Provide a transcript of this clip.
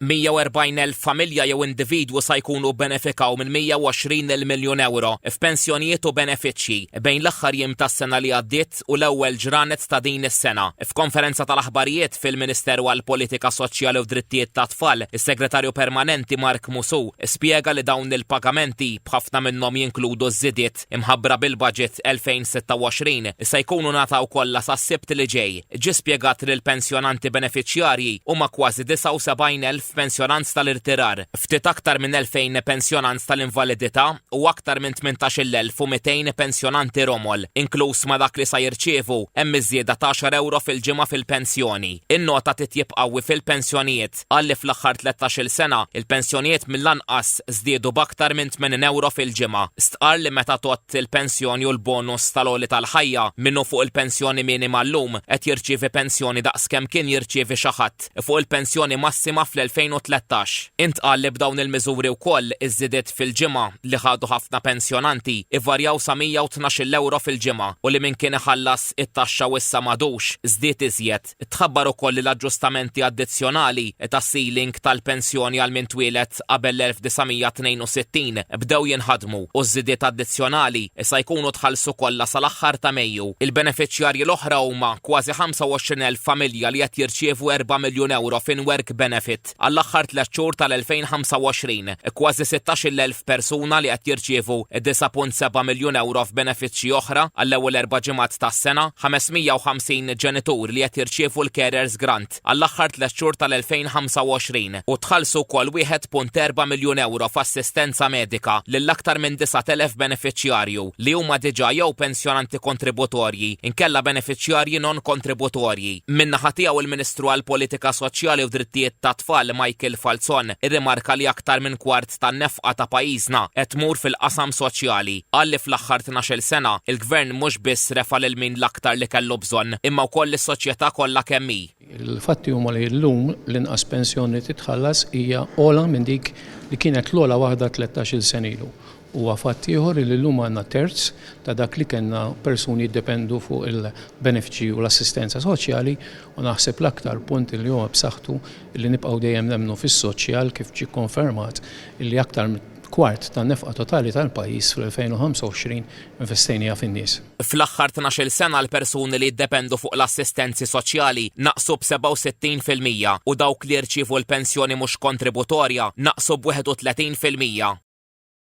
140,000 familja jew individwu sa jkunu bbenefikaw minn 120-il miljun ewro f'pensjonijiet u benefiċċji bejn l-aħħar jiem tas-sena li għaddiet u l-ewwel ġranet ta' din is-sena. F'konferenza tal-aħbarijiet fil-Ministeru għall-Politika Soċjali u d-Drittijiet tat-Tfal, is-Segretarju Permanenti Mark Musù spjega li dawn il-pagamenti, b'ħafna minnhom jinkludu ż-żidiet, imħabbra bil-Baġit 2026, se jkunu ngħataw kollha sas-Sibt li ġej. Ġie spjegat li l-pensjonanti benefiċjarji huma kważi 79 elf pensjonant tal-irtirar, ftit aktar minn 2,000 pensjonant tal-invalidità u aktar minn 18-il elf u 200 pensjonanti romol. Inkluż ma' dak li sa jirċievu hemm iż-żieda t'għaxar ewro fil-ġimgħa fil-pensjoni. In-nota titjieb qawwi fil-pensjonijiet. qal li fl-aħħar tlettax-il sena, il-pensjonijiet mill-anqas żdiedu b'aktar minn 80 ewro fil-ġimgħa. Stqarr li meta tgħodd il-pensjoni u l-bonus tal-għoli tal-ħajja, min hu fuq il-pensjoni minima llum qed jirċievi pensjoni daqs kemm kien jirċievi xi ħadd fuq il-pensjoni massima fl-2013. Intqal li b'dawn il-miżuri wkoll iż-żidiet fil-ġimgħa li ħadu ħafna pensjonanti ivarjaw sa 112-il ewro fil-ġimgħa u li min kien iħallas it-taxxa u issa m'għadux, żdied iżjed. Tħabbar ukoll li l-aġġustamenti addizzjonali tas-ceiling tal-pensjoni għal min twieled qabel l-1962 bdew jinħadmu u ż-żidiet addizzjonali sa jkunu tħallsu kollha sal-aħħar ta' Mejju. Il-benefiċjarji l-oħra huma kważi 25,000 familja li qed jirċievu erba' miljun ewro f'in-work benefit. Maltgħodd. Għall-aħħar tliet xhur tal-2025, kważi 16-il elf persuna li qed jirċievu 9.7 miljun ewro f'benefiċċji oħra għall-ewwel erba' ġimgħat tas-sena, 550 ġenitur li qed jirċievu l-Carers Grant għall-aħħar tliet xhur tal-2025 u tħallsu wkoll 1.4 miljun ewro f'assistenza medika lil aktar minn 9,000 benefiċjarju li huma diġà jew pensjonanti kontributorji inkella benefiċjarji non-kontributorji. Min-naħa tiegħu l-Ministru għall-Politika Soċjali u Drittijiet tat-Tfal Michael Falzon irrimarka li aktar minn kwart tan-nefqa ta' pajjiżna qed tmur fil-qasam soċjali. Qal li fl-aħħar tnax-il sena, il-Gvern mhux biss refa' lil min l-aktar li kellu bżonn, imma wkoll lis-soċjetà kollha kemm hi. Il-fatti huma li llum l-inqas pensjoni li titħallas hija ogħla minn dik li kienet l-ogħla waħda tlettax-il sena ilu Huwa fatt ieħor li llum għandna terz ta' dak li kellna persuni jiddependu fuq il-benefiċċji u l-assistenza soċjali u naħseb l-aktar punt li huwa b'saħħtu li nibqgħu dejjem nemmnu fis-soċjal kif ġie kkonfermat li aktar minn kwart tan-nefqa totali tal-pajjiż fl-2025 investejnieha fin-nies. Fl-aħħar tnax-il sena l-persuni li jiddependu fuq l-assistenzi soċjali naqsu b'67 fil-mija u dawk li jirċievu l-pensjoni mhux kontributorja naqsu b'31 fil-mija.